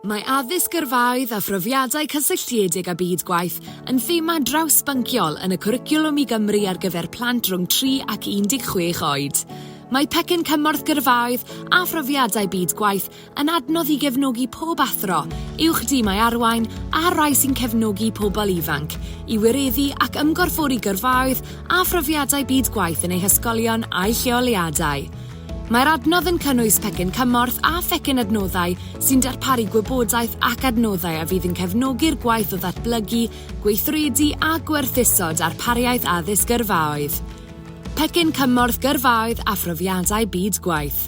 Mae addysg gyrfaoedd a phrofiadau cysylltiedig â byd gwaith yn thema drawsbynciol yn y cwricwlwm i Gymru ar gyfer plant rhwng 3 ac 16 oed. Mae pecyn cymorth gyrfaoedd a phrofiadau byd gwaith yn adnodd i gefnogi pob athro, uwch dimau arwain a'r rhai sy'n cefnogi pobl ifanc, i wireddu ac ymgorffori gyrfaoedd a phrofiadau byd gwaith yn eu hysgolion a'u lleoliadau. Mae'r adnodd yn cynnwys pecyn cymorth a phecyn adnoddau sy'n darparu gwybodaeth ac adnoddau a fydd yn cefnogi'r gwaith o ddatblygu, gweithredu a gwerthuso darpariaeth addysg gyrfaoedd. Pecyn cymorth gyrfaoedd a phrofiadau byd gwaith.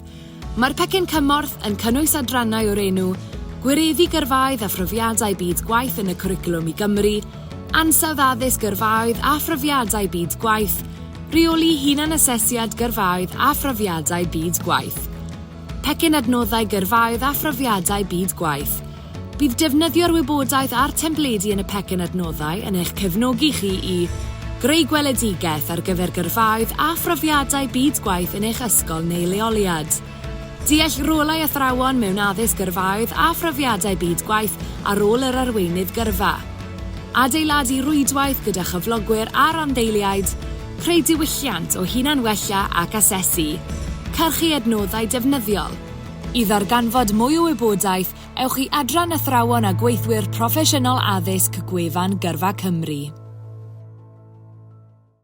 Mae'r pecyn cymorth yn cynnwys adrannau o'r enw Gwireddu Gyrfaoedd a Phrofiadau Byd Gwaith yn y Cwricwlwm i Gymru, Ansawdd Addysg Gyrfaoedd a Phrofiadau Byd Gwaith, Rheoli Hunanasesiad Gyrfaoedd a Phrofiadau Byd Gwaith. Pecyn Adnoddau Gyrfaoedd a Phrofiadau Byd Gwaith. Bydd defnyddio'r wybodaeth a'r templedi yn y pecyn adnoddau yn eich cefnogi chi i Greu gweledigaeth ar gyfer gyrfaoedd a phrofiadau byd gwaith yn eich ysgol neu leoliad Deall rolau athrawon mewn addysg gyrfaoedd a phrofiadau byd gwaith a rôl yr arweinydd gyrfa Adeiladu rwydwaith gyda chyflogwyr a rhanddeiliaid Creu diwylliant o hunan-wella ac asesu Cyrchu adnoddau defnyddiol I ddarganfod mwy o wybodaeth, ewch i Adran Athrawon a Gweithwyr Proffesiynol Addysg gwefan Gyrfa Cymru.